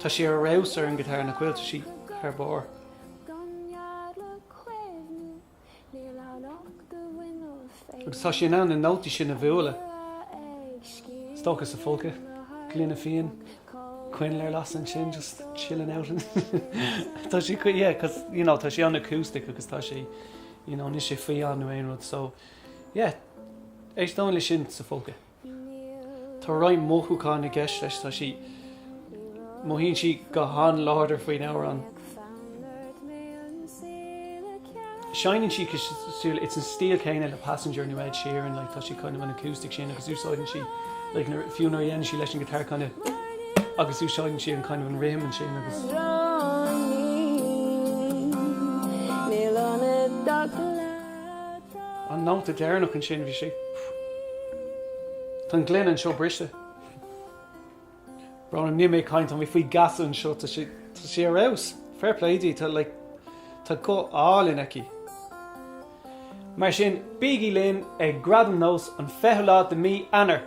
Tá sí ar fheabhas ar an ghiotár, nach bhfuil, tá sí thar barr. Agus tá sí in ann na nótaí sin a bhualadh, is dócha sa folcadh, gloine fíon, coinneal ar lasadh ansin, just chilling out. Tá sí, yeah, cos, you know, tá sí an-acoustic agus tá sí, you know, níl sé fiáin nó aon rud, so, yeah, éisteoinn le sin sa folcadh. Tá roinnt mothúcháin i gceist leis. Tá sí, mothaíonn sí go han-láidir faoin amhrán. Seinneann sí, so it's an stíl céanna le Passenger nó Ed Sheeran, like tá sí kind of an acoustic sin agus úsáideann sí, like nuair, fiú nuair a dhéanann sí leis an ghiotár kind of agus úsáideann sí an kind of an rithim ansin agus. An nóta deireanach ansin, bhí sé, tá an gloine anseo briste. Brón orm, níl mé ag caint, tá mé faoi gheasa anseo, tá sé, tá sé ar fheabhas, fair play di, tá like, tá guth álainn aici. Mar sin, bígí linn ag Gradaim NÓS an 20ú lá de mí Eanáir!